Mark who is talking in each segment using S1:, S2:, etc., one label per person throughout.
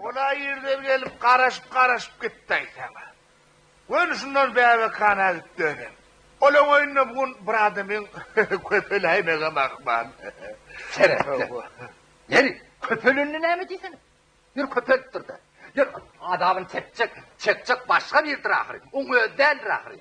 S1: Ol-a irden gelip garaşyp-garaşyp gitdi aýsaň-a. Göni şundan bäbekhana gidip dönen. Olaň öýünde bu gün bir adamyň köpeläýmegem ahmal. Seretseň.
S2: Ýeri, köpelende näme diýsene. Ýeri köpelipdir-dä. Ýeri, azabyny çekjek, çekjek başga birdir ahyry. Oň özi däldir ahyry.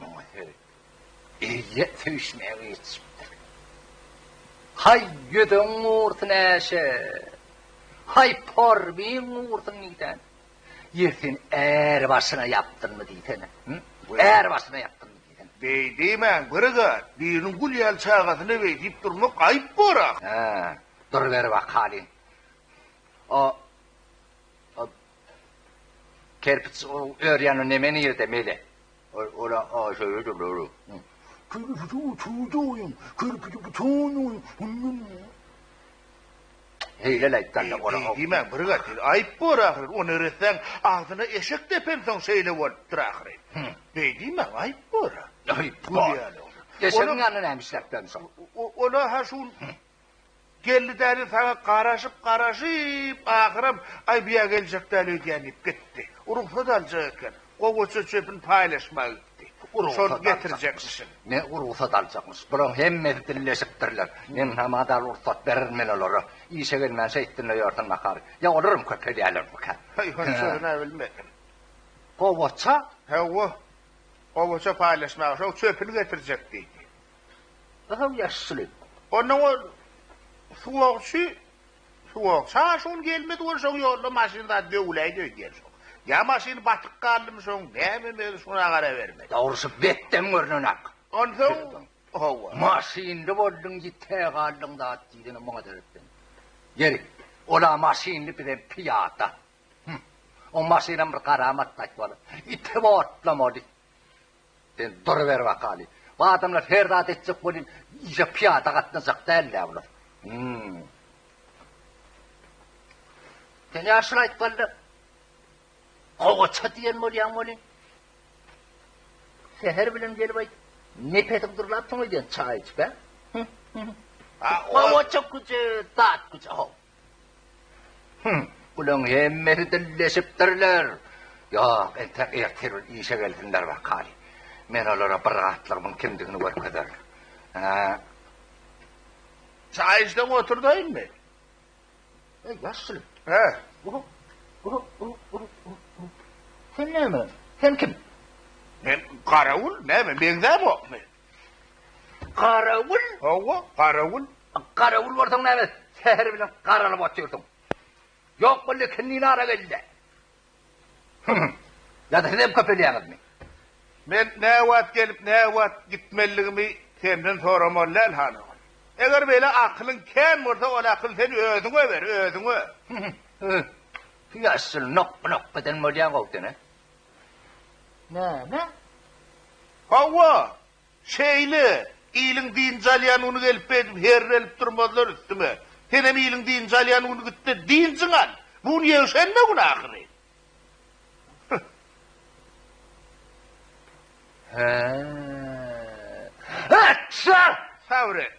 S2: Muňa seredip, eýýäm söýüşmäge ýetişipdir. Haý, ýüzüň gursyn, Äşe! Haý, porbiň gursyn diýsene! Ýe, sen är başyňa ýapdynmy diýsene? Hü? Är başyňa ýapdynmy diýsene? Beý diýmäň, bir
S1: zat, biriniň gül ýaly çagasyna beý diýip durmak aýyp bor-a! Hä,
S2: durberibakalyň. O, o, Kerpiç ör ýanyna neme nirde mele. Ora aşaýa durdy ora. Kerpiç oturdy oýun. Kerpiç butan oýun. Heýle aýtganda ora. Diýme bir gat.
S1: Aýyp bor ahyry. O neressäň agzyna eşek depensoň şeýle bolupdyr ahyry. Beý diýme aýyp bor. Aýyp
S2: bor. Eşegiň ýanyna näme işläp gelmişoň. Ola ha şu
S1: Geldi däli saňa garaşyp garaşyp ahyram aý bu ýa geljek däl öýdýän diýip gitdi. Rugsat aljak eken. Gowaça çöpün paýlaşmaga gitdi. Şony getirjekmişin. Ne rugsat
S2: aljakmyş. Bulaň hemmesi dilleşipdirler. Meň hama dal rugsat bererin men olara. Işe gelmän şeýtdinle ýörsen nahar. Ýa olaram köp edýälermikä. Heý hany şony nä
S1: bilmedim. Gowaça?
S2: Hawa.
S1: Gowaça paýlaşmaga şoň çöpüni getirjek diýdi. Gyzyl
S2: ýaşyly. Ondan ol
S1: suwagçy, suwagçy ha şol gelmedi ol şoň ýolda maşyn zat döwüläýdi öýdýän şoň. Ýa maşyn batyk galdymy şoň näme mezi şuna gara bermedi. Dogrusu betdem
S2: görnenak. Onsoň
S1: hawa. Maşynly bolduň
S2: ýite galdyň zat diýdini muňa seretdim. Ýeri, ol-a maşynly bizem pyýada. Hum. O maşynam bir garamat gaýtmaly. Ite otlamaly. Sen duruber wakaly. Bu adamlar her zat etjek welin işe pyýada gatnajak däl-dä bular. Hum. Sen ýaşuly aýtganda gowaça diýen bolýaň welin. Seher bilen gelip aýt. Nepesiň durlapsyň öýden çaý içip, hä? Gowaça güje, dat güje. Hüň, bulaň hemmesi dilleşipdirler. Ýok, entek ertirun işe gelsinler bakaly. Men olara bir gatlygymyň kimdigini görkezerin. Hä?
S1: Çaý içseň oturdaýynmy? Eý,
S2: ýaşuly. Hä? Sen näme? Sen kim? Men
S1: garawul, näme, meňzämokmy? Garawul?
S2: Hawa, garawul.
S1: Garawul bolsaň
S2: näme, säher bilen garalyp otyrsyň. Ýok boldy, ikindin ara gel-de. Hü-hü. Ýa-da sizem köpelýäňizmi? Men
S1: näwagt gelip, näwagt gitmeligimi senden soramaly däl, Hanagon. Eger beýle akylyň kän bolsa, ol akyl sen özüňe ber, özüňe. Hü-hü. Hü-hü.
S2: Ýaşuly nokga-nokga eden bolýaň-ow sen-ä. Näme?
S1: Hawa, şeýle. Iliň dynç alýan güni gelip beýdip herrelip durmazlar üstüme. Senem iliň dynç alýan güni git-de dynjyňy al. Bu gün ýekşenbe güni ahyry. Hä-ä-ä!
S2: Atja, sabyr et.